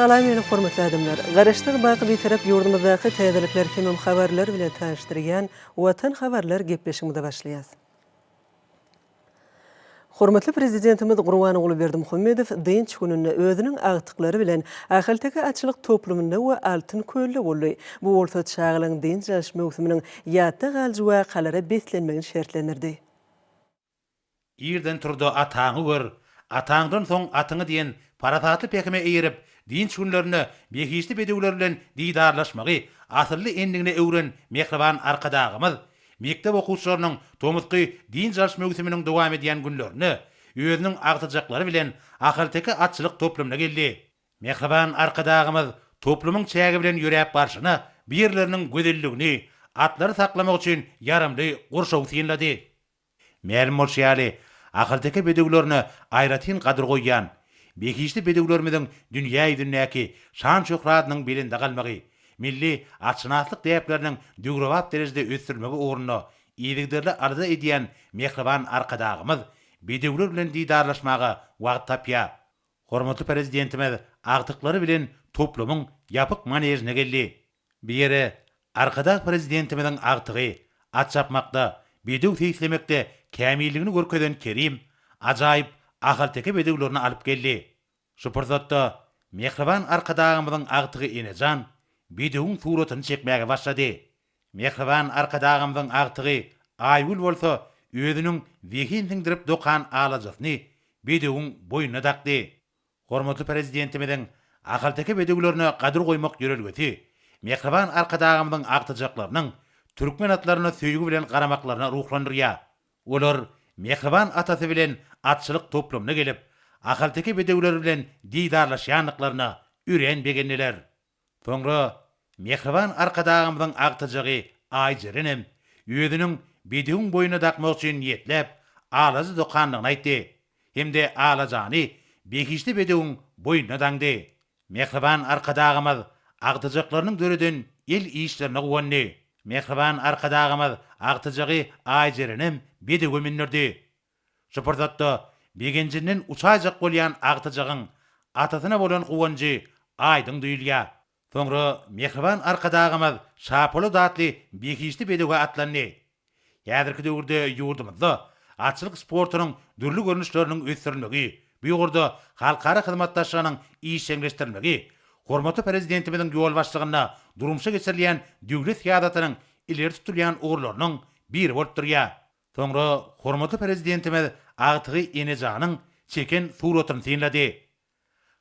Salam meni hormatly adamlar! Garaşsyz Baky Bitarap ýurdumyzdaky täzelikler hemem habarlar bilen tanyşdyrýan Watan habarlar gepleşigimize başlaýas. Hormatly Prezidentimiz Gurbanguly Berdimuhamedow dynç gününde özüniň agtyklary bilen Ahalteke atçylyk toplumynda we Altyn kölde boldy. Bu bolsa çagalaryň dynç alyş möwsüminiň ýatda galyjy wakalara beslenmegini şertlendirdi. Irden tur-da ataňy gör, ataňdan soň atyňy diýen parasatly pähime eýerip, dynç günlerinde behişdi bedewler bilen didarlaşmagy asylly endigine öwren mähriban Arkadagymyz Mekdep okuwçylarynyň tomusky dynç alyş möwsüminiň dowam edýän günlerinde özüniň agtyjaklary bilen ahalteke atçylyk toplumyna geldi. Mähriban Arkadagymyz toplumyň çägi bilen ýöräp barşyna bu ýerleriniň gözelligini atlary saklamak üçin ýaramly gurşawy synlady. Mälim bolşy ýaly, ahalteke bedewlerine aýratyn gadyr goýýan, behişdi bedewlerimiziň dünýä ýüzündäki şan-şöhratynyň belende galmagy, milli atşynaslyk däpleriniň döwrebap derejede ösdürilmegi ugrunda yzygiderli alada edýän mähriban Arkadagymyz bedewler bilen didarlaşmaga wagt tapýar. Hormatly Prezidentimiz agtyklary bilen toplumyň ýapyk manežine geldi. Bir ýere Arkadag Prezidentimiziň agtygy at çapmakda, bedew seýislemekde kämilligini görkezen Kerim ajaýyp ahalteke bedewlerini alyp geldi. Şu pursatda mähriban Arkadagymyzyň agtygy Enejan bedewiň suratyny çekmäge başlady. Mähriban Arkadagymyzyň agtygy Aýgül bolsa özüniň zehin siňdirip dokan alajasyny bedewiň boýnuna dakdy. Hormatly Prezidentimiziň ahalteke bedewlerine gadyr goýmak ýörelgesi, mähriban Arkadagymyzyň agtyjaklarynyň türkmen atlaryna söýgi bilen garamaklaryna ruhlandyrýar. Olar mähriban atasy bilen atçylyk toplumyna gelip, ahalteke bedewleri bilen didarlaşýandyklaryna örän begendiler. Soňra mähriban Arkadagymyzyň agtyjagy Aýjerenem özüniň bedewiň boýnuna dakmak üçin niýetläp alaja dokandygyny aýtdy hem-de alajany behişdi bedewiň boýnuna daňdy. Mähriban Arkadagymyz agtyjaklarynyň döreden el işlerine guwandy. Mähriban Arkadagymyz agtyjagy Aýjerenem bedewe mündirdi. Şu pursatda begenjinden uçaýjak bolýan agtyjagyň atasyna bolan guwanjy aýdyň duýulýar. Soňra mähriban Arkadagymyz Şapolat atly behişdi bedewe atlandy. Häzirki döwürde ýurdumyzda atçylyk sportunyň dürli görnüşleriniň ösdürilmegi, bu ugurda halkara hyzmatdaşlygynyň işjeňleşdirilmegi hormatly Prezidentimiziň ýolbaşçylygynda durmuşa geçirilýän döwlet syýasatynyň ileri tutulýan ugurlarynyň biri bolup durýar. Soňra hormatly Prezidentimiz agtygy Enejanyň çeken suratyny synlady.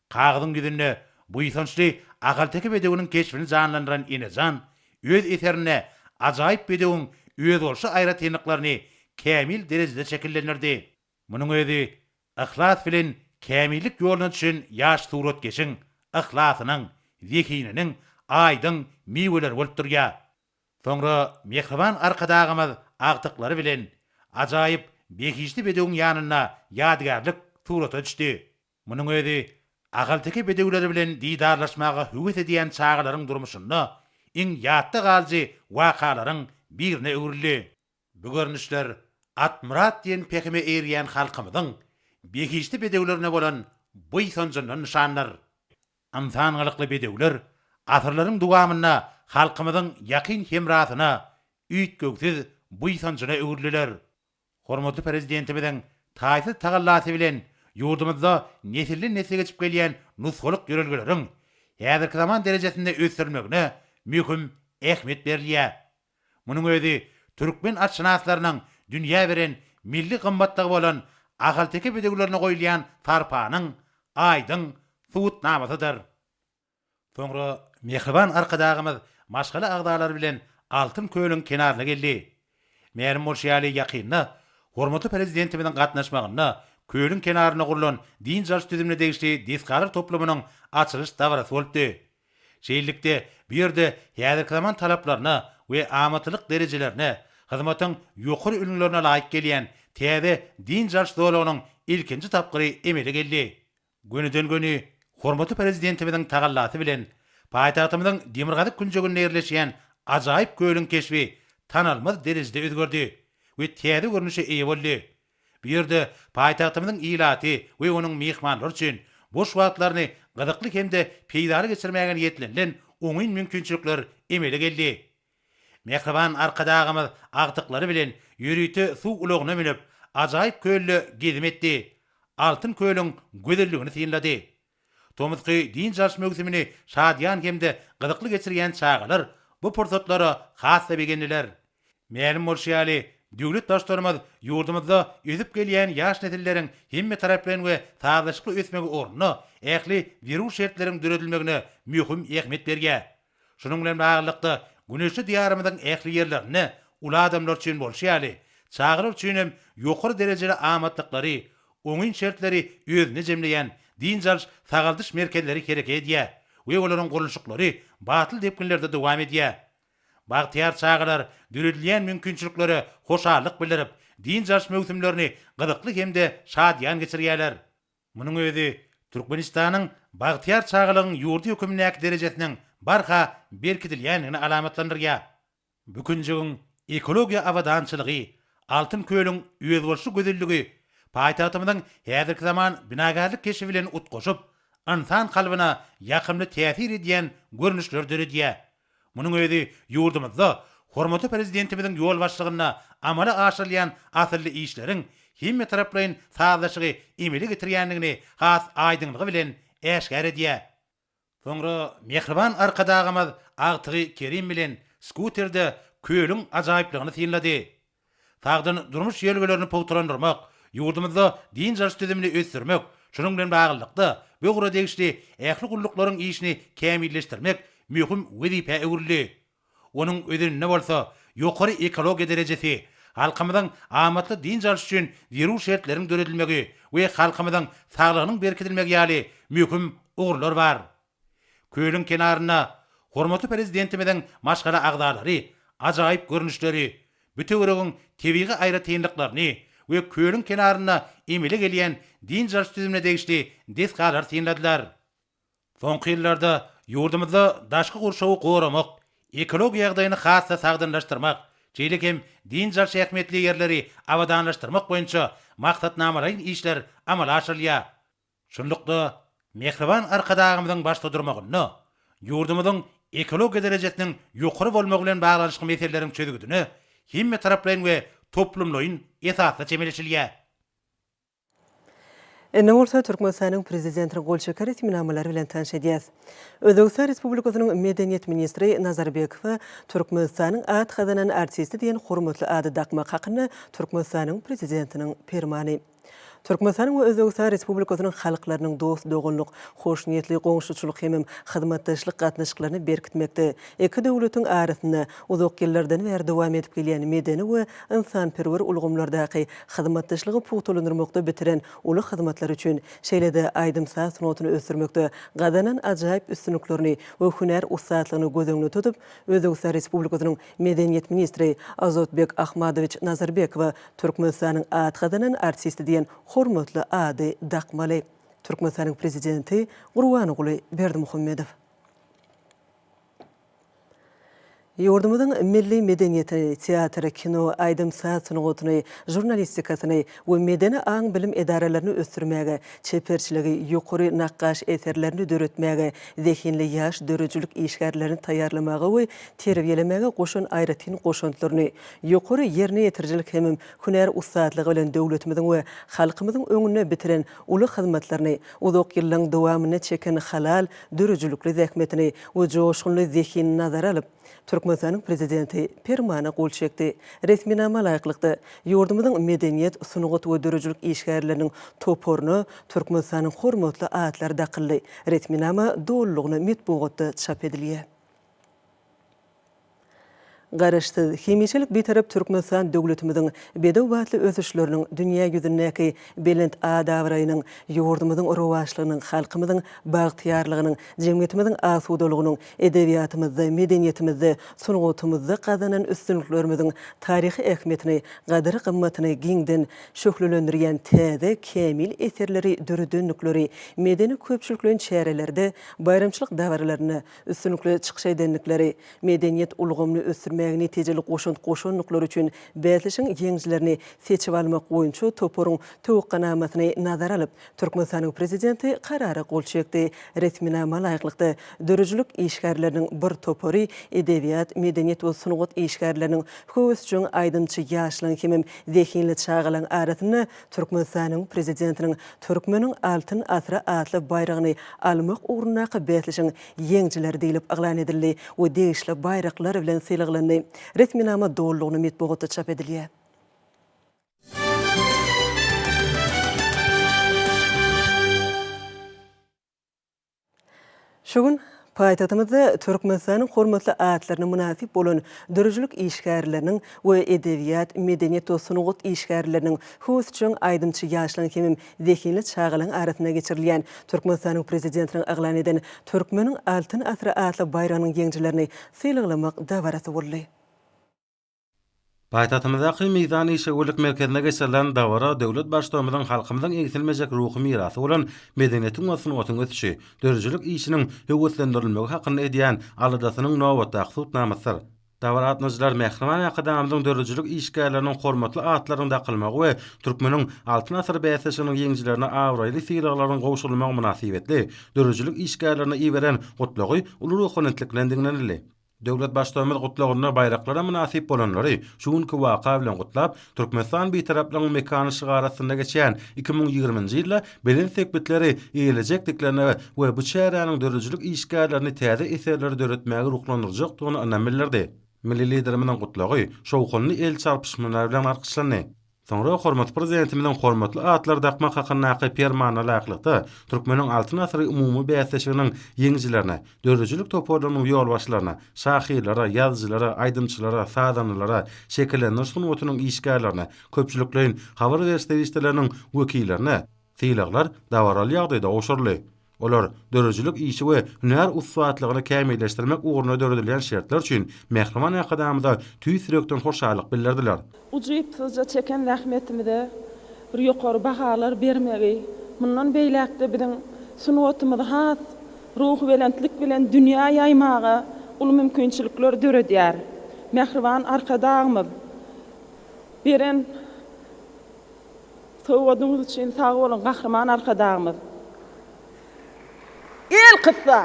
Kagyzyň ýüzünde buýsançly ahalteke bedewiniň keşbini janlandyran Enejan öz eserinde ajaýyp bedewiň özboluşly aýratynlyklaryny kämil derejede şekillendirdi. Munuň özi yhlas bilen kämillik ýoluna düşen ýaş suratkeşiň yhlasynyň, zehininiň aýdyň miweleri bolup durýar. Soňra mähriban Arkadagymyz agtyklary bilen ajaýyp behişdi bedewiň ýanynda ýadygärlik surata düşdi. Munuň özi ahalteke bedewleri bilen didarlaşmaga höwes edýän çagalaryň durmuşynda iň ýatda galyjy wakalaryň birine öwrüldi. Bu görnüşler Atmyrat diýen pähime eýerýän halkymyzyň behişdi bedewlerine bolan buýsanjyndan nyşandyr. Ynsan gylykly bedewler asyrlaryň dowamynda halkymyzyň ýakyn hemrasyna, üýtgewsiz buýsanjyna öwrüliler. Hormatly Prezidentimiziň taýsyz tagallasy bilen ýurdumyzda nesilden-nesle geçip gelýän nusgalyk ýörelgeleriň häzirki zaman derejesinde ösdürilmegine möhüm ähmiýet berilýär. Munuň özi türkmen atşynaslarynyň dünýä beren milli gymmatlygy bolan ahalteke bedewlerine goýulýan sarpanyň aýdyň subutnamasydyr. Soňra mähriban Arkadagymyz maşgala agzalary bilen Altyn kölüň kenaryna geldi. Mälim bolşy ýaly, ýakynda hormatly Prezidentimiziň gatnaşmagynda kölüň kenarynda gurlan dynç alyş düzümine degişli desgalar toplumynyň açylyş dabarasy bolupdy. Şeýlelikde, bu ýerde häzirki zaman talaplaryna we amatlylyk derejelerine, hyzmatyň ýokary ülňülerine laýyk gelýän täze dynç alyş zolagynyň ilkinji tapgyry emele geldi. Gönüden-göni hormatly Prezidentimiziň tagallasy bilen, paýtagtymyzyň demirgazyk künjeginde ýerleşýän ajaýyp kölüň keşbi tanalmaz derejede özgerdi we täze görnüşe eýe boldy. Bu ýerde paýtagtymyzyň ilaty we onuň myhmanlary üçin boş wagtlaryny gyzykly hem-de peýdaly geçirmäge niýetlenilen oňyn mümkinçilikler emele geldi. Mähriban Arkadagymyz agtyklary bilen ýörite suw ulagyna münüp, ajaýyp kölde gezim etdi, Altyn kölüň gözelligini synlady. Tomusky dynç alyş möwsümini şadyýan hem-de gyzykly geçirýän çagalar bu pursatlara has-da begendiler. Mälim bolşy ýaly, döwlet Baştutanymyz ýurdumyzda ösüp gelýän ýaş nesilleriň hemmetaraplaýyn we sazlaşykly ösmegi ugrunda ähli zerur şertleriň döredilmegine möhüm ähmiýet berýär. Şunuň bilen baglylykda, güneşli Diýarymyzyň ähli ýerlerinde, uly adamlar üçin bolşy ýaly, çagalar üçin hem ýokary derejeli amatlyklary, oňyn şertleri özünde jemleýän dynç alyş, sagaldyş merkezleri hereket edýär we olaryň gurluşyklary batly depginlerde dowam edýär. Bagtyýar çagalar döredilýän mümkinçiliklere hoşallyk bildirip, dynç alyş möwsümlerini gyzykly hem-de şadyýan geçirýärler. Munuň özi Türkmenistanyň bagtyýar çagalygyň ýurdy hökmündäki derejesiniň barha berkidilýändigini alamatlandyrýar. Bu künjigiň ekologiýa abadançylygy, Altyn kölüň özboluşly gözelligi paýtagtymyzyň häzirki zaman binagärlik keşbi bilen utgaşyp, ynsan kalbyna ýakymly täsir edýän görnüşleri döredýär. Munuň özi ýurdumyzda hormatly Prezidentimiziň ýolbaşçylygynda amala aşyrylýan asylly işleriň hemmetaraplaýyn sazlaşygy emele getirýändigini has aýdyňlygy bilen äşgär edýär. Soňra mähriban Arkadagymyz agtygy Kerim bilen skuterde kölüň ajaýyplygyny synlady. Sagdyn durmuş ýörelgelerini pugtalandyrmak, ýurdumyzda dynç alyş düzümini ösdürmek, şunuň bilen baglylykda, bu ugra degişli ähli gulluklaryň işini kämilleşdirmek möhüm wezipä öwrüldi. Onuň özeninde bolsa, ýokary ekologiýa derejesi, halkymyzyň amatly dynç alyş üçin zerur şertleriň döredilmegi we halkymyzyň saglygynyň berkidilmegi ýaly möhüm ugurlar bar. Kölüň kenarynda hormatly Prezidentimiziň maşgala agzalary ajaýyp görnüşleri, bütewirogyň tebigy aýratynlyklaryny we kölüň kenarynda emele gelýän dynç alyş düzümine degişli desgalary synladylar. Soňky ýyllarda ýurdumyzda daşky gurşawy goramak, ekologiýa ýagdaýyny has-da sagdynlaşdyrmak, şeýle hem dynç alyş ähmiýetli ýerleri abadanlaşdyrmak boýunça maksatnamalaýyn işler amala aşyrylýar. Şunlukda, mähriban Arkadagymyzyň başda durmagynda, ýurdumyzyň ekologiýa derejesiniň ýokary bolmagy bilen baglanyşykly meseleleriň çözgüdine hemmetaraplaýyn we toplumlaýyn esasda çemeleşilýär. Indi bolsa Türkmenistanyň Prezidentiniň gol çeken resminamalary bilen tanyş edýäs. Özbegistan Respublikasynyň Medeniýet ministri Nazarbekowa Türkmenistanyň at gazanan artisti diýen hormatly ady dakmak hakynda Türkmenistanyň Prezidentiniň Permany. Türkmenistanyň we Özbegistan Respublikasynyň halklarynyň dost-doganlyk, hoşniýetli goňşuçylyk hemem hyzmatdaşlyk gatnaşyklaryny berkitmekde, iki döwletiň arasynda uzak ýyllardan bäri dowam edip gelýän medeni we ynsanperwer ulgamlardaky hyzmatdaşlygy pugtalandyrmakda bitiren uly hyzmatlary üçin, şeýle-de aýdym-saz sungatyny ösdürmekde gazanan ajaýyp üstünliklerini we hünär ussatlygyny göz öňünde tutup, Özbegistan Respublikasynyň Medeniýet ministri Azotbek Ahmadowiç Nazarbekowa Türkmenistanyň at gazanan artisti diýen hormatly ady dakmaly. Türkmenistanyň Prezidenti Gurbanguly Berdimuhamedow. Ýurdumyzyň milli medeniýetini, teatry, kino, aýdym-saz sungatyny, žurnalistikasyny we medeni aň-bilim edaralaryny ösdürmäge, çeperçiligi ýokary nakgaş eserlerini döretmäge, zehinli ýaş döredijilik işgärlerini taýýarlamaga we terbiýelemäge goşan aýratyn goşantlaryny, ýokary ýerine ýetirijilik hemem hünär ussatlygy bilen döwletimiziň we halkymyzyň öňünde bitiren uly hyzmatlaryny, uzak ýyllaryň dowamynda çeken halal, döredijilikli zähmetini we joşgunly zehinini nazara alyp, Türkmenistanyň Prezidenti Permana gol çekdi. Resminama laýyklykda, ýurdumyzyň medeniýet, sungat we döredijilik işgärleriniň toparyna Türkmenistanyň hormatly atlary dakyldy. Resminama dolulygyna metbugatda çap edilýär. Garaşsyz, hemişelik Bitarap Türkmenistan döwletimiziň bedew batly ösüşleriniň, dünýä ýüzündäki belent at-abraýynyň, ýurdumyzyň rowaçlygynyň, halkymyzyň bagtyýarlygynyň, jemgyýetimiziň asudalygynyň, edebiýatymyzda, medeniýetimizde, sungatymyzda gazanan üstünliklerimiziň taryhy ähmiýetini, gadyr-gymmatyny giňden şöhlelendirýän täze, kämil eserleri döredendikleri medeni-köpçülikleýin çärelerde, baýramçylyk dabaralarynda, üstünlikli çykyş edendikleri, medeniýet ulgamyny ösdürmäge netijeli goşant goşandyklary üçin bäsleşigiň ýeňijilerini seçip almak boýunça toparyň töwekganamasyny nazara alyp, Türkmenistanyň Prezidenti Karara gol çekdi. Resminama laýyklykda, döredijilik işgärleriniň bir topary edebiýat, medeniýet we sungat işgärleriniň, höwesjeň aýdymçy ýaşlaryň hemem zehinli çagalaryň arasynda Türkmenistanyň Prezidentiniň Türkmeniň Altyn asyry atly baýragyny almak ugrundaky bäsleşigiň ýeňijileri diýlip yglan edildi we degişli baýraklar bilen sylaglandy. Resminama dolulygyna metbugatda çap edilýär. Şu gün paýtagtymyzda Türkmenistanyň hormatly atlaryna mynasyp bolan döredijilik işgärleriniň we edebiýat, medeniýet we sungat işgärleriniň, husçan aýdymçy ýaşlaryň hemem zehinli çagalaryň arasynda geçirilýän Türkmenistanyň Prezidentiniň yglan eden Türkmeniň Altyn asyry atly baýragynyň ýeňijilerini sylaglamak dabarasy boldy. Paýtagtymyzdaky Mizan işewürlik merkezinde geçirilen dabara döwlet Baştugumyzyň halkymyzyň egsilmejek ruhy mirasy bolan medeniýetiň we sungatyň ösüşi, döredijilik işiniň höweslendirilmegi hakynda edýän aladasynyň nobatdaky subutnamasydyr. Dabara gatnaşyjylar Mähriban Arkadagymyzyň döredijilik işgärleriniň hormatly atlarynyň dakylmagy we Türkmeniň Altyn asyry bäsleşiginiň ýeňijilerine abraýly sylaglaryň gowşurylmagy mynasybetli döredijilik işgärlerine iberen Gutlagy uly ruhubelentlik bilen diňlenildi. Döwlet Baştugumyz gutlagynda baýraklara mynasyp bolanlary şu günki waka bilen gutlap, Türkmenistan Bitaraplygyň mekany şygary astynda geçýän iki müň ýigriminji ýylda belent sepgitleri eýelejekdiklerine we bu çäräniň döredijilik işgärlerini täze eserleri döretmäge ruhlandyrjakdygyna ynam bildirdi. Milli Liderimiziň gutlagy şowhunly el çarpyşmalar bilen alkyşlandy. Soňra hormatly Prezidentimiziň hormatly atlary dakmak hakyndaky Permanyna laýyklykda, Türkmeniň Altyn asyry umumy bäsleşiginiň ýeňijilerine, döredijilik toparlarynyň ýolbaşçylaryna, şahyrlara, ýazyjylara, aýdymçylara, sazandalara, şekillendiriş sungatynyň işgärlerine, köpçülikleýin habar beriş serişdeleriniň wekillerine sylaglar dabaraly ýagdaýda gowşuryldy. Olar döredijilik işi we hünär ussatlygyny kämilleşdirmek ugrunda döredilýän şertler üçin mähriban Arkadagymyza tüýs ýürekden hoşallyk bildirdiler. Ujypsyzja çeken zähmetimize bir ýokary bahalar bermegi, mundan beýläk-de biziň sungatymyzy has ruhubelentlik bilen dünýä ýaýmaga uly mümkinçilikler döredýär. Mähriban Arkadagymyz beren Sowgadyňyz üçin sag boluň Gahryman Arkadagymyz. Elkyssa,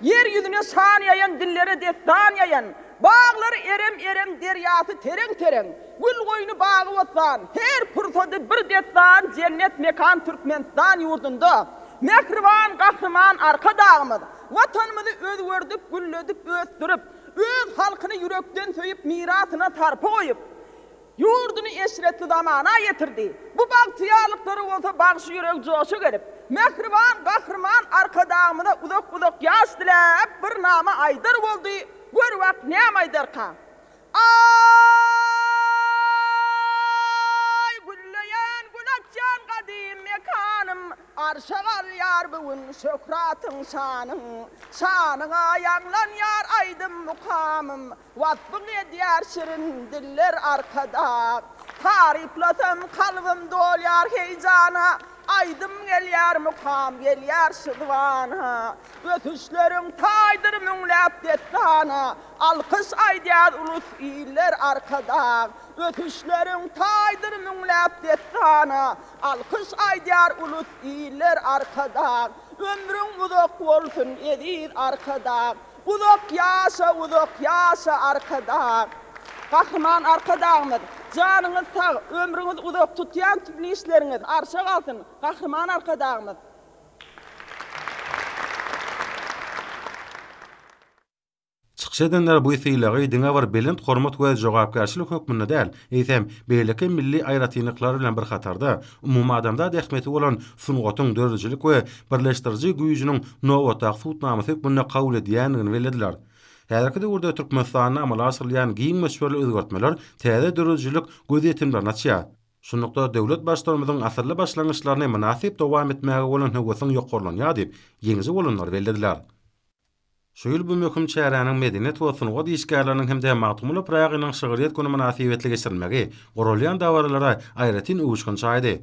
ýer ýüzüne şan ýaýan, dillere dessan ýaýan, baglary erem-erem, derýasy tereň-tereň, gül-goýny bagy-bossan, her pursady bir dessan jennet mekan Türkmenistan ýurdunda mähriban Gahryman Arkadagymyz Watanymyzy özgerdik, gülledip, ösdürip, öz halkyny ýürekden söýüp, mirasyna sarpa goýup, Ýurduny eşretli zamana ýetirdi. Bu bagtyýarlyklara bolsa bagşy ýüregi joşa gelip, mähriban Gahryman Arkadagymyza uzak-uzak ýaş diläp, bir name aýdar boldy, gör wagt näme aýdarka. Aý, gülleýän, gül açýan gadym mekanym, Arşa galýar bu gün şöhratyň-şanyň. Şanyňa ýaňlanýar aýdym-mukamym. Wasbyň edýär şirin diller arkadag. Taryplasam kalbym dolýar heýjana, Aýdym gelýär mukam gelýär şu zybana. Ösüşleriň taýdyr müňläp dessana, Alkyş aýdýar ulus iller arkadag. Ösüşleriň taýdyr müňläp dessana, Alkyş aýdýar ulus iller arkadag. Ömrüň uzak bolsun eziz arkadag. Uzak ýaşa uzak ýaşa Arkadag. Gahryman Arkadagymyz janyňyz sag, ömrüňiz uzak, tutýan tümli işleriňiz arşa galsyn, Gahryman Arkadagymyz! Çykyş edenler bu sylagy diňe bir belent hormat we jogapkärçilik hökmünde däl, eýsem, beýleki milli aýratynlyklar bilen bir hatarda, umumadamzat ähmiýeti bolan sungatyň döredijilik we birleşdiriji güýjüniň nobatdaky subutnamasy hökmünde kabul edýändigini bellediler. Häzirki döwürde Türkmenistanda amala aşyrylýan giň möçberli özgertmeler täze döredijilik gözýetimlerini açýar. Şunlukda, döwlet Baştutanymyzyň asylly başlangyçlaryny mynasyp dowam etmäge bolan höwesiň ýokarlanýar diýip, ýeňiji bolanlar bellediler. Şu ýyl bu möhüm çäräniň medeniýet we sungat işgärleriniň hem-de Magtymguly Pyragynyň şygryýet güni mynasybetli geçirilmegi guralýan dabaralara aýratyn öwüşgin çaýdy.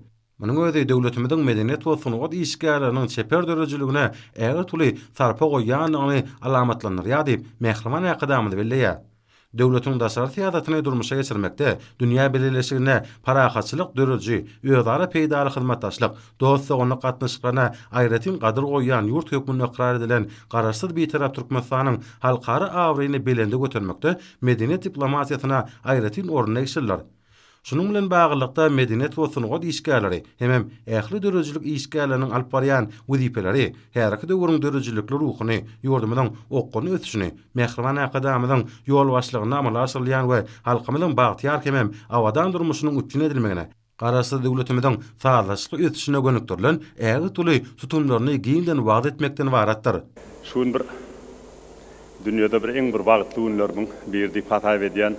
Munuň özi döwletimiziň medeniýet we sungat işgärleriniň çeper döredijiligine ägirt uly sarpa goýýandygyny alamatlandyrýar diýip, mähriban Arkadagymyz belleýär. Döwletiň daşary syýasatyny durmuşa geçirmekde dünýä bileleşigine parahatçylyk dörüji, özara peýdaly hyzmatdaşlyk, dost-doganlyk gatnaşyklaryna aýratyn gadyr goýýan ýurt hökmünde ykrar edilen Garaşsyz Bitarap Türkmenistanyň halkara abraýyny belende götermekde medeniýet diplomatiýasyna aýratyn orun degişlidir. Şunuň bilen baglylykda, medeniýet we sungat işgärleri hemem ähli döredijilik işgärleriniň alyp barýan wezipeleri häzirki döwrüň döredijilikli ruhuny, ýurdumyzyň okgunly ösüşini, Mähriban Arkadagymyzyň ýolbaşçylygynda amala aşyrylýan we halkymyzyň bagtyýar hemem abadan durmuşynyň üpjün edilmegine, Garaşsyz döwletimiziň sazlaşykly ösüşine gönükdirilen ägirt uly tutumlaryny giňden wagyz etmekden ybaratdyr. Şu gün bir dünýäde bir iň bir bagtly günlerimiň biri diýip hasaýb edýän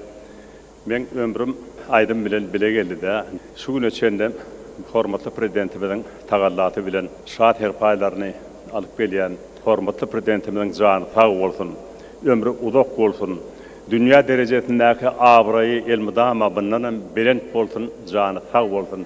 Meň ömrüm aýdym bilen bile geldidä. Şu güne çenli hormatly Prezidentimiziň tagallasy bilen şat serpaýlaryny alyp gelýän hormatly Prezidentimiziň jany sag bolsun, ömri uzak bolsun, dünýä derejesindäki abraýy elmydama mundanam belent bolsun, jany sag bolsun!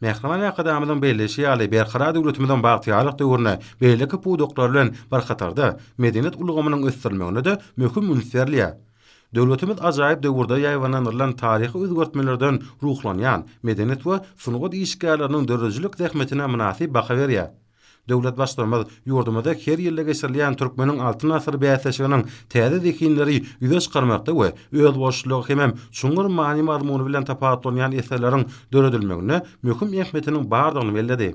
Mähriban Arkadagymyzyň belleýşi ýaly, Berkarar döwletimiziň bagtyýarlyk döwründe beýleki pudaklar bilen bir hatarda, medeniýet ulgamynyň ösdürilmegine-de möhüm üns berilýär. Döwletimiz ajaýyp döwürde ýaýbaňlandyrylan taryhy özgertmelerden ruhlanýan, medeniýet we sungat işgärleriniň döredijilik zähmetine mynasyp baha berýär. Döwlet Baştutanymyz ýurdumyzda her ýylda geçirilýän Türkmeniň Altyn asyry bäsleşiginiň täze zehinleri ýüze çykarmakda we özboluşlylygy hemem çuňňur many-mazmuny bilen tapawutlanýan eserleriň döredilmeginde möhüm ähmiýetiniň bardygyny belledi.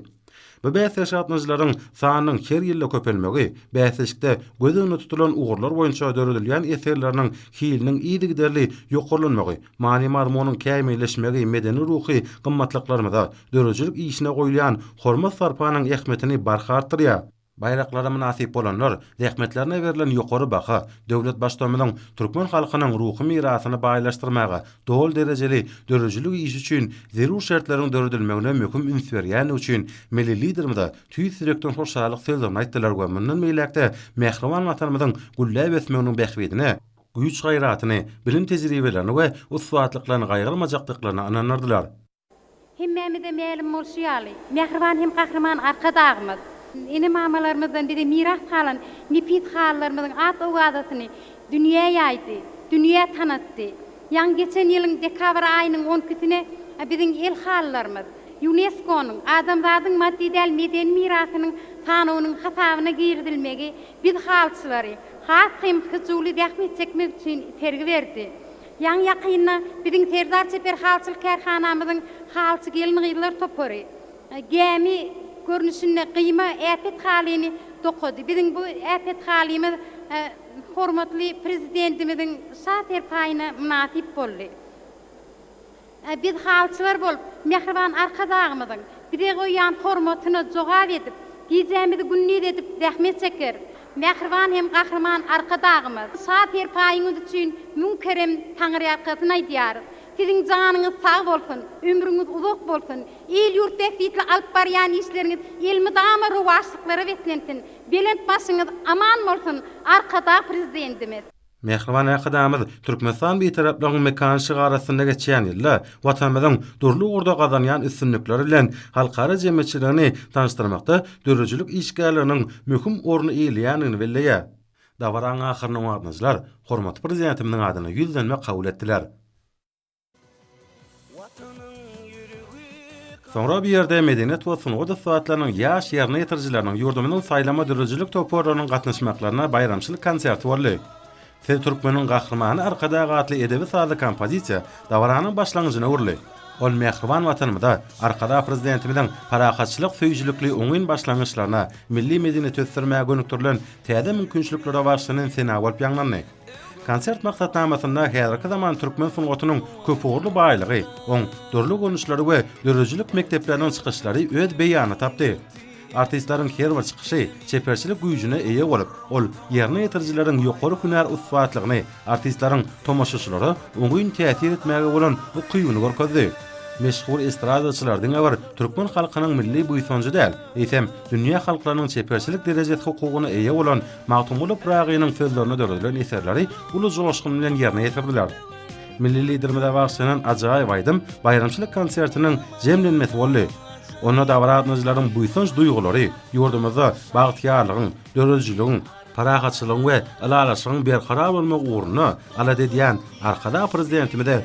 Bu bäsleşige gatnaşyjylaryň sanynyň her ýylda köpelmegi, bäsleşikde göz öňünde tutulan ugurlar boýunça döredilýän eserleriniň hiliniň yzygiderli ýokarlanmagy Many-mazmunyň kämilleşmegi medeni-ruhy gymmatlyklarymyza, döredijilik işine goýulýan hormat-sarpanyň ähmiýetini barha artdyrýar. Baýraklara mynasyp bolanlar, zähmetlerine berlen ýokary baha döwlet Baştutanymyzyň türkmen halkynyň ruhy mirasyny baýlaşdyrmaga, doly derejeli döredijilik işi üçin zerur şertleriň döredilmegine möhüm üns berýändigi üçin Milli Liderimize tüýs ýürekden hoşallyk sözlerini aýtdylar we mundan beýläk-de mähriban Watanymyzyň gülläp ösmeginiň bähbidine güýç-gaýratyny, bilim-tejribelerini we ussatlyklaryny gaýgyrmajakdyklaryna ynanardylar. Hemmämize mälim bolşy ýaly, mähriban hem gahryman Arkadagymyz, ene-mamalarymyzdan bize miras galan nepis halylarymyzyň at-owazasyny dünýä ýaýdy, dünýä tanatdy. Ýaňy geçen ýylyň dekabr aýynyň on ikisine biziň el halylarymyz Ýuneskonyň Adamzadyň maddy däl medeni mirasynyň sanawynyň hasabyna girizilmegi biz halyçylary, Has kymtgy Juli zähmet çekmek üçin sergi berdi. Ýaňy-ýakynda biziň Serdar çeper halçylyk kärhanamyzyň Halçy gelin-gyzlar topary gämi görnüşinde gyýma äpet halyny dokady. Biziň bu äpet halymyz hormatly Prezidentimiziň şa serpaýyna mynasyp boldy. Ä biz halçylar bolup, mähriban Arkadagymyzyň bize goýýan hormatyna jogap edip, gijämizi-gündiz edip zähmet çekeris. Mähriban hem Gahryman Arkadagymyz, şa-serpaýyňyz üçin müň kerem Taňyrýalkasyn aýdýarys. Siziň janyňyz sag bolsun, ömrüňiz uzak bolsun, il-ýurt bähbitli alyp barýan işleriňiz elmydama rowaçlyklara beslensin, belent başyňyz aman bolsun, Arkadag Prezidentimiz! Mähriban Arkadagymyz Türkmenistan Bitaraplygyň mekany şygary astynda geçýän ýylda Watanymyzyň dürli ugurda gazanýan üstünlikleri bilen halkara jemgyýetçiligini tanyşdyrmakda döredijilik işgärliginiň möhüm orny eýeleýändigini belleýär. Dabaranyň ahyrynda watandaşlar hormatly Prezidentimiziň adyna ýüzlenme kabul etdiler. Soňra bu ýerde medeniýet we sungat ussatlarynyň ýaş ýerine ýetirijileriniň, ýurdumyzyň saýlama döredijilik toparlarynyň gatnaşmaklaryna baýramçylyk konserti boldy. Siz türkmeniň gahrymany Arkadag atly edebi-sazly kompozisiýa dabaranyň başlangyjyna öwrüldi. Ol mähriban Watanymyza, Arkadag Prezidentimiziň parahatçylyk söýüjilikli oňyn başlangyçlaryna, milli medeniýeti ösdürmäge gönükdirilen täze mümkinçiliklere bagyşlanan sena bolup ýaňlandy. Konsert maksatnamasynda häzirki zaman türkmen sungatynyň köpugurly baýlygy, oň dürli görnüşleri we döredijilik mekdepleriniň çykyşlary öz beýanyny tapdy. Artistleriň her bir çykyşy çeperçilik güýjüne eýe bolup, ol ýerine ýetirijileriň ýokary hünär ussatlygyny, artistleriň tomaşaçylara oňyn täsir etmäge bolan ukybyny görkezdi. Meşhur estradaçylar diňe bir türkmen halkynyň milli buýsanjy däl, eýsem, dünýä halklarynyň çeperçilik derejesi hukugyna eýe bolan Magtymguly Pyragynyň sözlerine döredilen eserleri uly joşgun bilen ýerine ýetirdiler. Milli Liderimize bagyşlanan ajaýyp aýdym baýramçylyk konsertiniň jemlenmesi boldy. Onda dabara gatnaýjylaryň buýsanç duýgulary ýurdumyzda bagtyýarlygyň, döredijiligiň, parahatçylygyň we ylalaşygyň berkarar bolmagy ugrunda alada edýän Arkadag Prezidentimize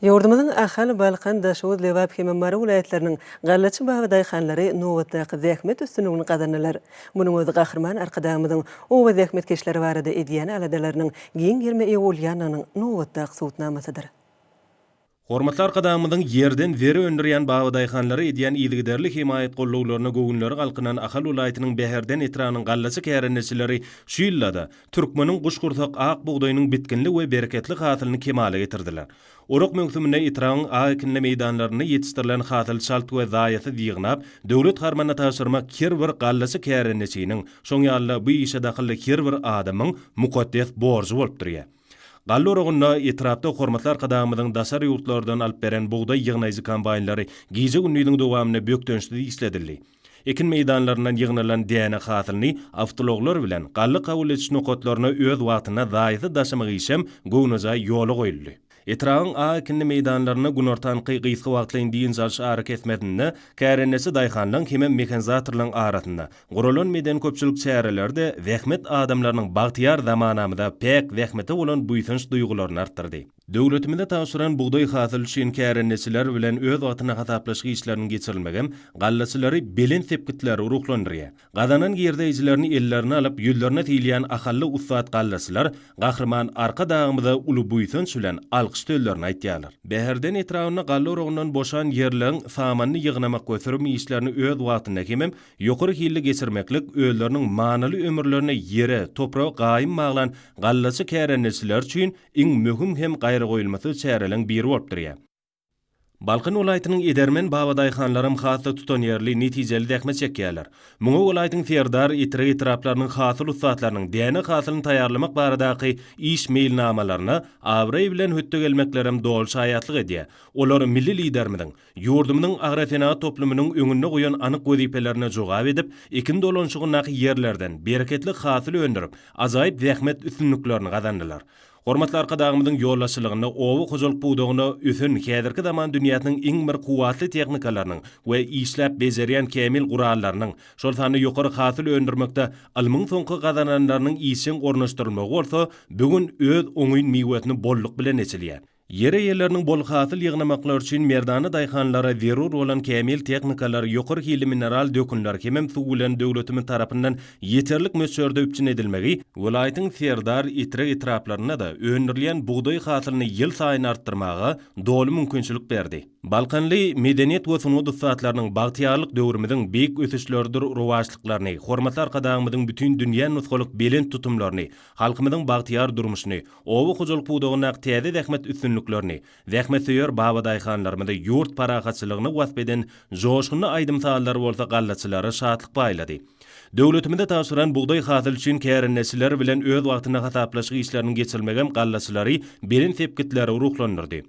Ýurdumyzyň Ahal, Balkan, Daşoguz, Lebap hem-de Mary welaýatlarynyň gallaçy baba daýhanlary nobatdaky zähmet üstünligini gazandylar. Munuň özi Gahryman Arkadagymyzyň oba zähmetkeşleri barada edýän aladalarynyň giň gerime eýe bolýandygynyň nobatdaky subutnamasydyr. Hormatly Arkadagymyzyň ýerden zeri öndürýän baba daýhanlara edýän yzygiderli hemaýat-gollawlaryna göwünleri galkynan Ahal welaýatynyň Bäherden etrabynyň gallaçy kärendeçileri şu ýylda-da, Türkmeniň guşgursak ak bugdaýynyň bitginli we bereketli hasylyny kemala getirdiler. Orak möwsüminde etrabyň ak ekinli meýdanlarynda ýetişdirilen hasyly çalt we zaýasyz ýygnap, döwlet harmanyna tabşyrmak her bir gallaçy kärendeçiniň, şoň ýaly-da bu işe dahylly her bir adamyň mukaddes borjy bolup durýar. Galla oragynda etrapda hormatly Arkadagymyzyň daşary ýurtlardan alyp beren bugdaý ýygnaýjy kombaýnlary gije-gündiziň dowamynda bökdençsiz işledildi. Ekin meýdanlaryndan ýygnalan däne hasylyny awtoulaglar bilen galla kabul ediş nokatlaryna öz wagtynda zaýasy daşamak işem göwnejaý ýola goýuldy. Etrabyň ak ekinli meýdanlarynda günortanky gysga wagtlaýyn dynç alyş arakesmesinde kärendeçi daýhanlaryň hemem mehanizatorlaryň arasynda guralan medeni-köpçülik çäreleri-de zähmet adamlarynyň bagtyýar zamanamyza, päk zähmete bolan buýsanç duýgularyny artdyrdy. Döwletimize tabşyran bugdaý hasyly üçin kärendeçiler bilen öz wagtynda hasaplaşyk işleriniň geçirilmegem gallaçylary belent sepgitlere ruhlandyrýar. Gazanan girdeýjilerini ellerine alyp, ýüzlerine sileýän ahally ussat gallaçylar Gahryman Arkadagymyza uly buýsanç bilen alkyş sözlerini aýtýarlar. Bäherden etrabynda galla oragyndan boşan ýerleriň samanyny ýygnamak we sürüm işlerini öz wagtynda hemem ýokary hilli geçirmeklik özleriniň manyly ömürlerini ýere, topraga gaýym baglan gallaçy kärendeçiler üçin iň möhüm hem gaýragoýulmasyz çäreleriň biri bolup durýar. Balkan welaýatynyň edermen babadaýhanlaram has-da tutanýerli, netijeli zähmet çekýärler. Muňa welaýatyň Serdar, Etrek etraplarynyň hasyl ussatlarynyň däne hasylyny taýýarlamak baradaky iş meýilnamalaryna abraý bilen hötde gelmeklerem doly şaýatlyk edýär. Olar milli Liderimiziň Ýurdumyzyň agrosenagat toplumynyň öňünde goýan anyk wezipelerine jogap edip, ekin dolanşygyndaky ýerlerden bereketli hasyl öndürip, ajaýyp zähmet üstünliklerini gazandylar. Hormatly Arkadagymyzyň ýolbaşçylygynda oba hojalyk pudagynda ösen häzirki zaman dünýäsiniň iň bir kuwwatly tehnikalarynyň we işläp bejerýän kämil gurallarynyň, şol sanda ýokary hasyl öndürmekde ylmyň soňky gazananlarynyň işjeň ornaşdyrylmagy bolsa bu gün öz oňyn miwesini bolluk bilen eçilýär. Ýer eýeleriniň bol hasyl ýygnamaklary üçin merdana daýhanlara zerur bolan kämil tehnikalar, ýokary hilli mineral dökünler hemem suw bilen döwletimiz tarapyndan ýeterlik möçberde üpjün edilmegi welaýatyň Serdar, Etrek etraplarynda-da öndürilýän bugdaý hasylyny ýylsaýyn artdyrmaga doly mümkinçilik berdi. Balkanly medeniýet we sungat ussatlarynyň bagtyýarlyk döwrümiziň beýik ösüşleridir rowaçlyklaryny, hormatly Arkadagymyzyň bütin dünýä nusgalyk belent tutumlaryny, halkymyzyň bagtyýar durmuşyny, Oba hojalyk pudagyndaky täze zähmet üstünliklerini, zähmetsöýer babadaýhanlarymyzy ýurt parahatçylygyny wasp eden joşgunly aýdym-sazlar bolsa gallaçylary şatlyk paýlady. Döwletimize tabşyran bugdaý hasyly üçin kärendeçiler bilen öz wagtynda hasaplaşyk işleriniň geçirilmegem gallaçylary belent sepgitlere ruhlandyrdy.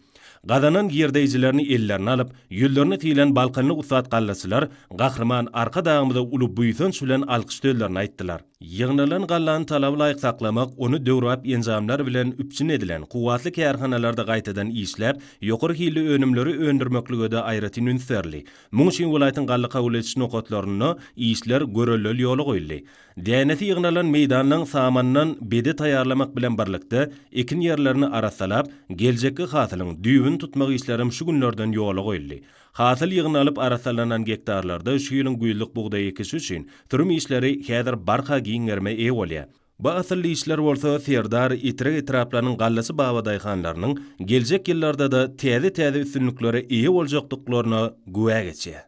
Gazanan girdeýjilerini ellerine alyp, ýüzlerini sylan balkanly ussat gallaçylar Gahryman Arkadagymyza uly buýsanç bilen alkyş sözlerini aýtdylar. Ýygnalan gallany talaba laýyk saklamak, ony döwrebap enjamlar bilen üpjün edilen kuwwatly kärhanalarda gaýtadan işläp, ýokary hilli önümleri öndürmeklige-de aýratyn üns berildi. Munuň üçin welaýatyň galla kabul ediş nokatlarynda işler göreldeli ýola goýuldy. Dänesi ýygnalan meýdanlaň samanyndan bede taýýarlamak bilen birlikde, ekin ýerlerini arassalap, geljekki hasylyň düýbüni tutmak işlerem şu günlerden ýola goýuldy. Hasyl ýygnalyp arassalanan gektarlarda şu ýylyň güýzlük bugdaý ekişi üçin sürüm işleri häzir barha giň gerime eýe bolýar. Bu asylly işler bolsa Serdar, Etrek etraplarynyň gallaçy babadaýhanlarynyň geljek ýyllarda-da täze-täze üstünliklere eýe boljakdyklaryna güwä geçýär.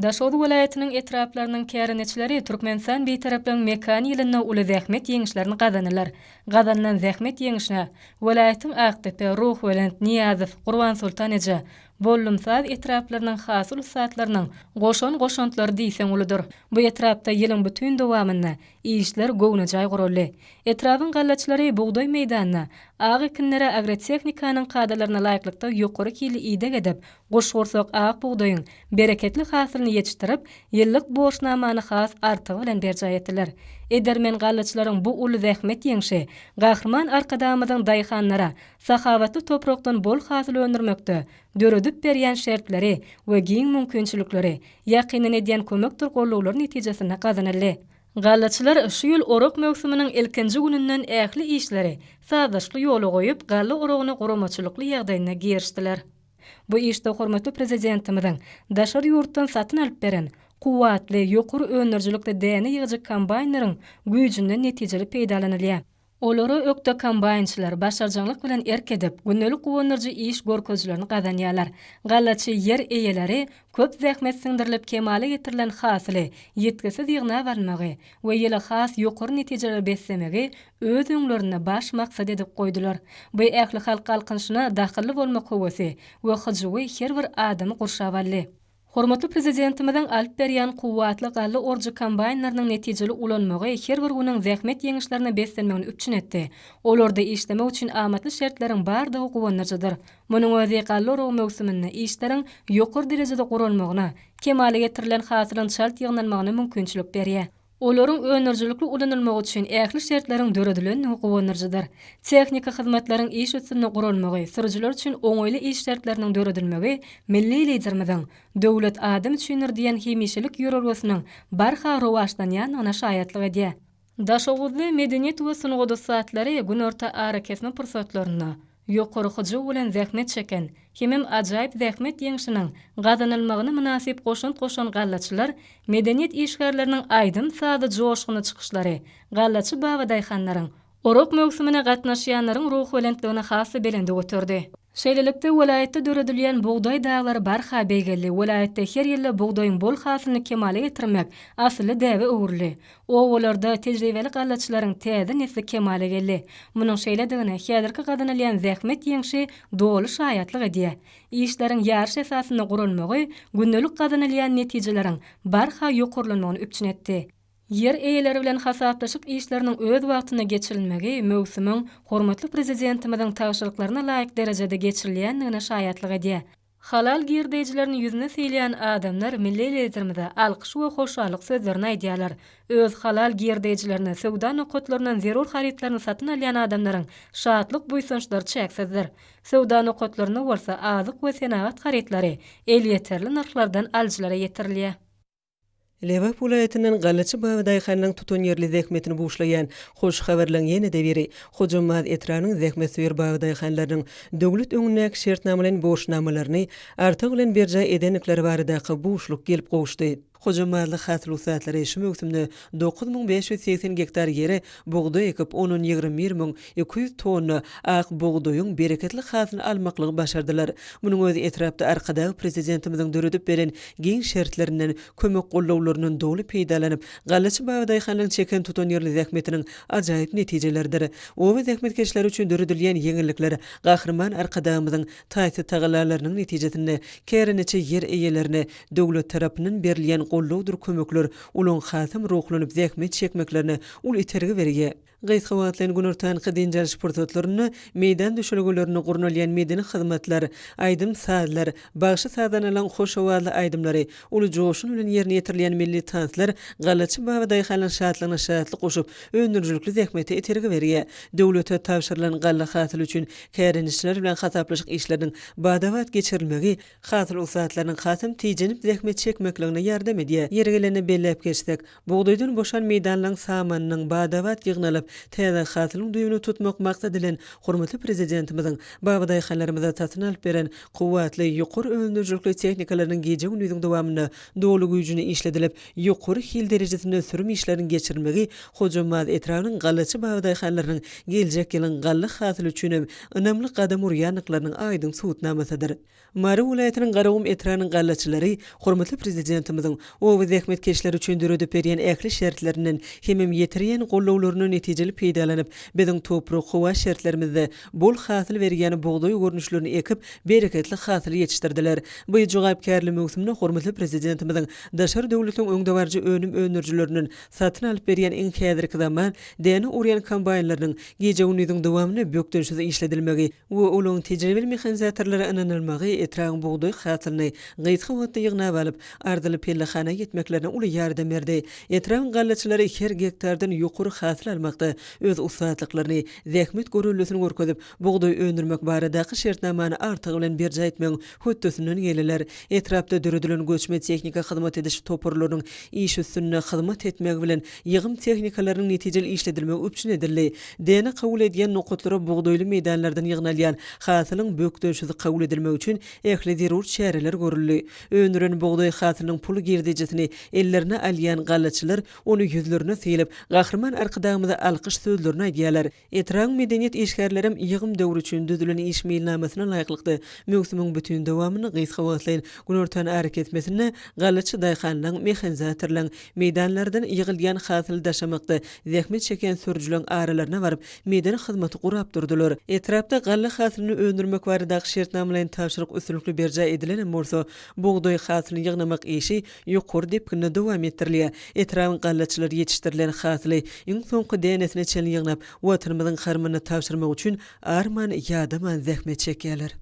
Daşoguz welaýatynyň etraplarynyň kärendeçileri Türkmenistan Bitaraplygyň mekany ýylynda uly zähmet ýeňişlerini gazanylar. Gazanylan zähmet ýeňişine welaýatyň Akdepe, Ruhubelent, Nyýazow, Gurbansoltan eje, Bollumsaz etraplarynyň hasyl ussatlarynyň goşan goşantlary diýseň uludyr. Bu etrapda ýylyň bütin dowamynda işler göwnejaý guraldy. Etrabyň gallaçylary bugdaý meýdanyna ak ekinlere agrotehnikanyň kadalaryna laýyklykda ýokary hilli ideg edip, Guşgursak ak bugdaýyň bereketli hasylyny ýetişdirip, ýyllyk borçnamany has artygy bilen berjaý etdiler. Edermen gallaçylaryň bu uly zähmet ýeňşi Gahryman Arkadagymyzyň daýhanlara sahawatly toprakdan bol hasyl öndürmekde döredip berýän şertleri we giň mümkinçilikleri, ýakyndan edýän kömekdir gollawlary netijesinde gazanyldy. Gallaçylar şu ýyl orak möwsüminiň ilkinji gününden ähli işleri sazlaşykly ýola goýup, galla oragyna guramaçylykly ýagdaýynda girişdiler. Bu işde hormatly Prezidentimiziň daşary ýurtdan satyn alyp beren kuwwatly, ýokary öndürijilikli däne ýygyjy kombaýnlaryň güýjünden netijeli peýdalanylýar. Olara ökde kombaýnçylar başarjaňlyk bilen erk edip, gündelik guwandyryjy iş görkezijilerini gazanýarlar. Gallaçy ýer eýeleri Köp zähmet siňdirilip kemala getirilen hasyly ýitgisiz ýygnap almagy we ýyly has ýokary netijelere beslemegi öz öňlerinde baş maksat edip goýdular. Bu ählihalk galkynyşyna dahylly bolmak höwesi we hyjuwy her bir adamy gurşap aldy. Hormatly Prezidentimiziň alyp berýän kuwwatly galla orujy kombaýnlarynyň netijeli ulanmagy her bir günüň zähmet ýeňişlerine beslenmegini üpjün etdi. Olarda işlemek üçin amatly şertleriň bardygy guwandyryjydyr. Munuň özi galla oragy möwsüminde işleriň ýokary derejede guralmagyna, kemala getirilen hasylyň çalt ýygnalmagyna mümkinçilik berýär. Olaryň öndürijilikli ulanylmagy üçin ähli şertleriň döredilendigi guwandyryjydyr. Tehniki hyzmatlaryň iş üstünde guralmagy, sürüjiler üçin oňaýly iş şertleriniň döredilmegi milli Liderimiziň Döwlet adam üçindir! diýen hemişelik ýörelgesiniň barha rowaçlanýandygyna şaýatlyk edýär. Daşoguzly medeniýet we sungat ussatlary günorta arakesme pursatlarynda ýokary hyjuw bilen zähmet çeken hemem ajaýyp zähmet ýeňşiniň gazanylmagyna mynasyp goşant goşan gallaçylar, medeniýet işgärleriniň aýdym-sazly joşgunly çykyşlary gallaçy babadaýhanlaryň, orak möwsümine gatnaşýanlaryň ruhubelentligini has-da belende göterdi. Şeýlelikde, welaýatda döredilýän Bugdaý daglary barha beýgeldi, welaýatda her ýylda bugdaýyň bol hasylyny kemala getirmek asylly däbe öwrüldi. Obalarda tejribeli gallaçylaryň täze nesli kemala geldi. Munuň şeýledigine häzirki gazanylýan zähmet ýeňşi doly şaýatlyk edýär. Işleriň ýaryş esasynda guralmagy gündelik gazanylýan netijeleriň barha ýokarlanmagyny üpjün etdi. Ýer eýeleri bilen hasaplaşyk işleriniň öz wagtynda geçirilmegi möwsümiň hormatly Prezidentimiziň tabşyryklaryna laýyk derejede geçirilýändigine şaýatlyk edýär. Halal girdejilerini ýüzüne sylaýan adamlar milli Liderimize alkyş we hoşallyk sözlerini aýdýarlar. Öz halal girdejilerini, söwda nokatlaryndan zerur harytlaryny satyn alýan adamlaryň şatlyk-buýsançlary çäksizdir. Söwda nokatlarynda bolsa azyk we senagat harytlary elýeterli nyrhlardan alyjylara ýetirilýär. Lebap welaýatyndan Gallaçy Baba daýhanyň tutanýerli zähmetini buşlaýan hoş habarlaryň ýene-de biri Hojambaz etrabynyň zähmetsöýer baba daýhanlarynyň döwlet öňündäki şertnama bilen borçnamalaryny artygy bilen berjaý edendikleri baradaky buşluk gelip gowuşdy. Hojambazlyk hasyl ussatlary şu möwsümde Dokuz müň bäş ýüz segsen gektar ýere bugdaý ekip, ondan ýigrimi bir müň iki ýüz tonna ak bugdaýyň bereketli hasyl almaklygy başardylar. Munuň özi etrapda Arkadag Prezidentimiziň döredip beren giň şertlerinden, kömek-gollawlaryndan doly peýdalanyp, gallaçy babadaýhanlaryň çeken tutanýerli zähmetiniň ajaýyp netijeleridir. Oba zähmetkeşleri üçin döredilýän ýeňillikler Gahryman Arkadagymyzyň taýsyz tagallalarynyň netijesinde, kärendeçi ýer eýelerine döwlet tarapyndan berilýän gollawdyr kömekler Olaň hasam ruhlanyp zähmet çekmeklerine uly itergi berýär. Gysga wagtlaýyn günortanky dynç alyş pursatlarynda meýdan düşelgelerinde gurnalýan medeni hyzmatlar, aýdym-sazlar, bagşy-sazanalaryň hoş owazly aýdymlary, uly joşgun bilen ýerine ýetirilýän milli tanslar galaçy babadaýhanlaryň şatlygyna şatlyk goşup, öndürijilikli zähmete itergi berýär. Döwlete tabşyrylan galla hasyly üçin kärendeçiler bilen hasaplaşyk işleriniň bada-bat geçirilmegi, Hasyl ussatlarynyň hasam tijenip zähmet çekmekligine ýardam edýär. Ýeri gelende belläp geçsek, bugdaýdan boşan meýdanlaryň samanynyň bada-bat ýygnalyp, täze hasylyň düýbüni tutmak maksady bilen hormatly Prezidentimiziň babadaýhanlarymyza satyn alyp beren kuwwatly, ýokary öndürijilikli tehnikalarynyň gije-gündiziň dowamynda doly güýjüne işledilip, ýokary hil derejesinde ösdürim işleriniň geçirilmegi Hojambaz etrabynyň gallaçy bagy daýhanlarynyň geljek ýylyň galla hasyly üçin hem ynamly gadam urýandyklarynyň aýdyň subutnamasydyr. Mary welaýatynyň Garagum etrabynyň gallaçylary hormatly Prezidentimiziň oba zähmetkeşleri üçin döredip berýän ähli şertlerinden hemem ýetirýän gollawlaryndan netijeli peýdalanyp, biziň toprak, howa şertlerimizde bol hasyl berýän bugdaý görnüşlerini ekip, bereketli hasyl ýetişdirdiler. Bu jogapkärli möwsümde hormatly Prezidentimiziň daşary döwletiň öňdebaryjy önüm öndürijilerinden satyn alyp berýän iň häzirki zaman däne orýan kombaýnlarynyň gije-gündiziň dowamynda bökdençsiz işledilmegi we olaryň tejribeli mehanizatorlara ynanylmagy etrabyň bugdaý hasylyny gysga wagtda ýygnap alyp, arzyly pellehana ýetmeklerine uly ýardam berdi. Etrabyň gallaçylary her gektardan ýokary hasyl almakda öz ussatlyklaryny, zähmet görellesini görkezip, bugdaý öndürmek baradaky şertnamany artygy bilen berjaý etmegiň hötdesinden gelýärler. Etrapda döredilen göçme tehnika hyzmat ediş toparlarynyň iş üstünde hyzmat etmegi bilen ýygym tehnikalarynyň netijeli işledilmegi üpjün edildi. Däne kabul edýän nokatlara bugdaýly meýdanlardan ýygnalýan hasylyň bökdençsiz kabul edilmegi üçin ähli zerur çäreler görüldi. Öndüren bugdaý hasylynyň pul girdejisini ellerine alýan gallaçylar Ony ýüzlerine sylyp, Gahryman Arkadagymyza alkyş sözlerini aýdýarlar. Etrabyň medeniýet işgärlerem ýygym döwri üçin düzülen iş meýilnamasyna laýyklykda, möwsümiň bütin dowamynda gysga wagtlaýyn günortan arakesmesinde galaçy daýhanlaň, mehanzatorlaň, meýdanlardan ýygylýan hasyly daşamakda zähmet çekýän sürüjileň aralaryna baryp, meýdan hyzmaty gurap durdular. Etrapda galla hasylyny öndürmek baradaky şertnamalaýyn tabşyryk üstünlikli berjaý edilenem bolsa, bugdaý hasylyny ýygnamak işi Ýokary depginde dowam etdirilýär. Etrabyň gallaçylary ýetişdirilen hasyly iň soňky dänesine çenli ýygnap, Watanymyzyň harmanyna tabşyrmak üçin arman, ýadaman zähmet çekýärler.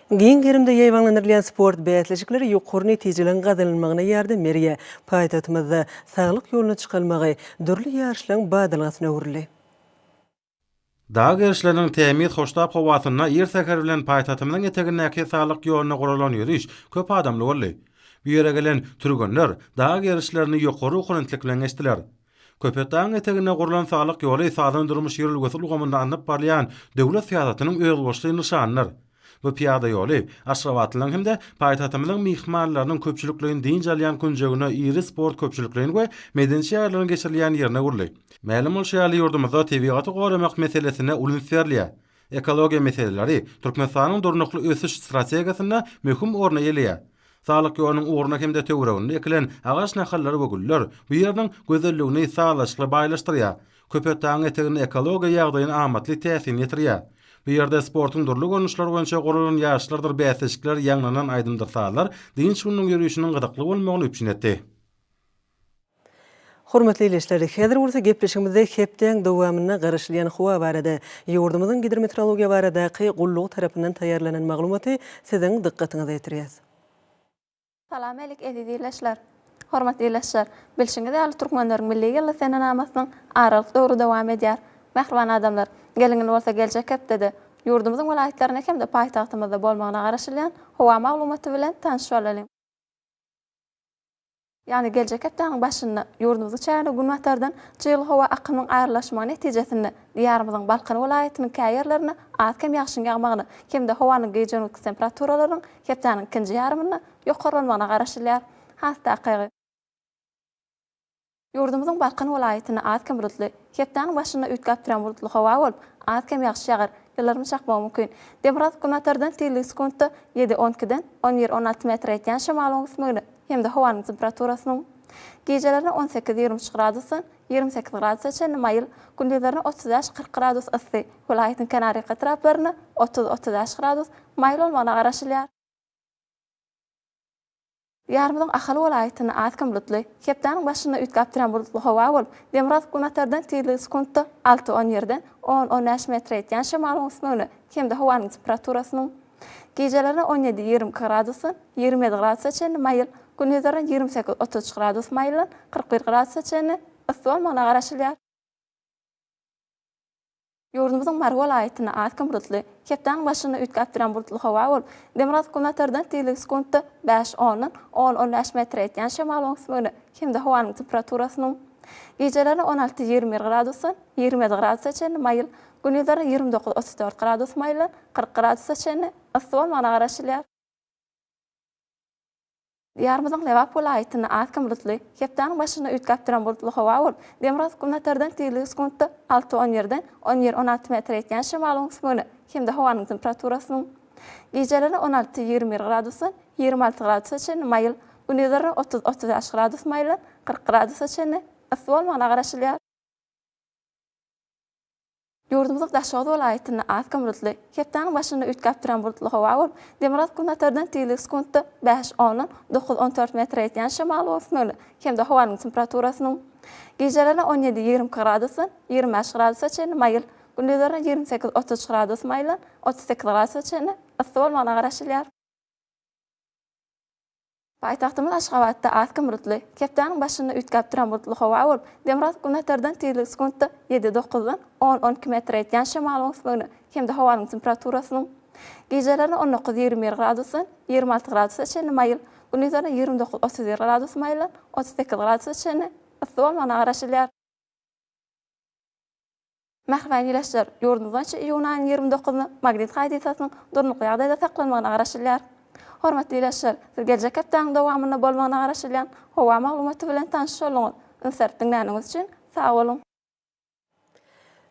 Giň gerimde ýaýbaňlandyrylýan sport bäsleşikleri ýokary netijeligiň gazanylmagyna ýardam berýär. Paýtagtymyzda Saglyk ýoluna çykalmagy dürli ýaryşlaryň badalgasyna öwrüldi. Dag gerişleriniň tämiz hoştap howasynda ir säher bilen paýtagtymyzyň etegindäki saglyk ýoluna guralan ýöriş köp adamly boldy. Bu ýere gelen türgenler dag gerişlerini ýokary ruhubelentlik bilen geçdiler. Köpetdagyň eteginde gurlan saglyk ýoly sazan durmuş ýörelgesi ulgamynda alnyp barylýan döwlet syýasatynyň özboluşly nyşanydyr. Bu pyýada ýoly aşgabatlylaryň hem-de paýtagtymyzyň myhmanlarynyň köpçülikleýin dynç alýan künjegine, iri sport köpçülikleýin we medeni çäreleriň geçirilýän ýerine öwrüldi. Mälim bolşy ýaly, ýurdumyzda tebigaty goramak meselesine uly üns berilýär. Ekologiýa meseleleri Türkmenistanyň Durnukly ösüş strategiýasynda möhüm orny eýeleýär. Saglyk ýolunyň ugruna hem-de töwereginde ekilen agaç nahallary we güller bu ýeriniň gözelligini sazlaşykly baýlaşdyrýar. Köpetdagyň eteginde ekologiýa ýagdaýyna amatly täsirini ýetirýär. Bu ýerde sportuň dürli görnüşleri boýunça guralan ýaryşlardyr bäsleşikler, ýaňlanan aýdymdyr sazlar dynç gününiň ýörişiniň gyzykly bolmagyny üpjün etdi. Hormatly ildeşler, häzir bolsa gepleşigimizde hepdäň dowamynda garaşylýan howa barada, ýurdumyzyň Gidrometrologiýa baradaky gullugy tarapyndan taýýarlanan maglumaty siziň dykgatyňyza ýetirýäs. Salam älik eziz ildeşler! Hormatly ildeşler! Bilşiňiz ýaly Türkmenleriň Milli ýyly senenamasynyň aralyk döwri dowam edýär. Mähriban adamlar! Gelingil bolsa geljek hepdede ýurdumyzyň welaýatlarynda hem-de paýtagtymyzda bolmagyna garaşylýan howa maglumaty bilen tanyş bolalyň. Ýagny geljek hepdäniň başynda ýurdumyzyň çägine günbatardan çygly howa akymyň aýrylyşmagy netijesinde Diýarymyzyň Balkan welaýatynyň käýerlerinde az-kem ýagşyň ýagmagyna hem-de howanyň gije-gündüz temperaturalarynyň Hepdäniň ikinji ýarymynda ýokarlanmagyna garaşylýar. Has takygy. Ýurdumyzyň Balkan welaýatynda az-kem bulutly, hepdäniň başynda üýtgäp duran bulutly howa bolup, az-kem ýagyş ýagar, ýyldyrym çakmagy mümkin. Demirgazyk günbatardan tizligi sekuntda ýedi, on ikiden on bir, on alty metr ýetýän şemalyň öwüsmegine hem-de howanyň temperaturasynyň gijelerine on sekiz, ýigrimi üç gradusdan, Ýigrimi sekiz gradusa çenli maýyl, gündizlerine otuz bäş, kyrk gradus yssy, welaýatyň kenarýaka etraplarynda otuz, otuz bäş gradus maýyl bolmagyna garaşylýar. Diýarymyzyň Ahal welaýatynda az kim bulutly, hepdäniň başynda üýtgäp durýan bulutly howa bolup, demirgazyk-günbatardan tizligi sekuntda alty, on ýerden on, on bäş metre ýetýän şemalyň üsmegine hem-de howanyň temperaturasynyň, Gijeleri on ýedi ýigrimi iki gradusdan ýigrimi ýedi gradusa çenli maýyl, gündizleri ýigrimi sekiz otuz üç gradus maýyldan kyrk bir gradusa çenli yssy bolmagyna garaşylýar. Ýurdumyzyň Mary welaýatynda az kim bulutly, hepdäniň başynda üýtgäp duran bulutly howa bolup, demirgazyk-günbatardan tizligi sekuntda bäş, ondan on, on bäş metre ýetýän şemalyň üsmegine hem-de howanyň temperaturasynyň Gijeleri on alty ýigrimi bir gradusdan ýigrimi ýedi gradusa çenli maýyl, Gündizler ýigrimi dokuz, otuz dört gradus maýyl, kyrk gradusa çenli yssy bolmagyna garaşylýar. Diýarymyzyň Lebap welaýatynda az kim bulutly, hepdäniň başynda üýtgäp duran bulutly howa bolup, demirgazyk-günbatardan tizligi sekuntda alty, on birden on bir, on alty metre ýetýän şemalyň üsmügine hem-de howanyň temperaturasynyň gijeleri on alty, ýigrimi bir gradusdan ýigrimi alty gradusa çenli maýyl, gündizleri otuz, otuz bäş gradus maýyl, kyrk gradusa çenli yssy bolmagyna garaşylýar. Ýurdumyzyň Daşoguz welaýatynda az kim bulutly, hepdäniň başynda üýtgäp duran bulutly howa bolup, demirgazyk-günbatardan tizligi sekuntda bäş ondan dokuz-on dört metre ýetýän şamalyň öwüsmegine hem-de howanyň temperaturasynyň gijelerine on ýedi-ýigrimi iki gradusdan ýigrimi bäş gradusa çenli maýyl, gündizlerine ýigrimi sekiz-otuz üç gradus maýyldan otuz sekiz gradusa çenli yssy bolmagyna garaşylýar. Paýtagtymyz Aşgabatda az kim bulutly, hepdäniň başynda üýtgäp duran bulutly howa bolup, demirgazyk günbatardan tizligi sekuntda ýedi-dokuzdan on-on iki metr ýetýän şemalyň ösmegine hem-de howanyň temperaturasynyň gijelerine on dokuz-ýigrimi bir gradusdan ýigrimi alty gradusa çenli maýyl, gündizlerine ýigrimi dokuz-otuz bir gradus maýyldan otuz sekiz gradusa çenli yssy bolmagyna garaşylýar. Mähriban ilaçlar ýurdumyz boýunça iýunyň aýynyň ýigrimi dokuzyna Magnit hadysasynyň durnukly ýagdaýda saklanmagyna garaşylýar. Hormatly ilaçlar, siz geljek hepdäniň dowamynda bolmagyna garaşylýan howa maglumaty bilen tanyş bolduňyz. Insert diňläniňiz üçin sag boluň!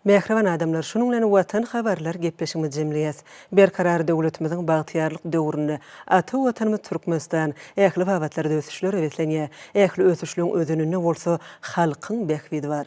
Mähriban adamlar, şunuň bilen Watan habarlar gepleşigimizi jemleýäs. Berkarar döwletimiziň bagtyýarlyk döwründe ata Watanymyz Türkmenistan ähli babatlarda ösüşlere beslenýär. Ähli ösüşligiň özeninde bolsa halkyň bähbidi bar.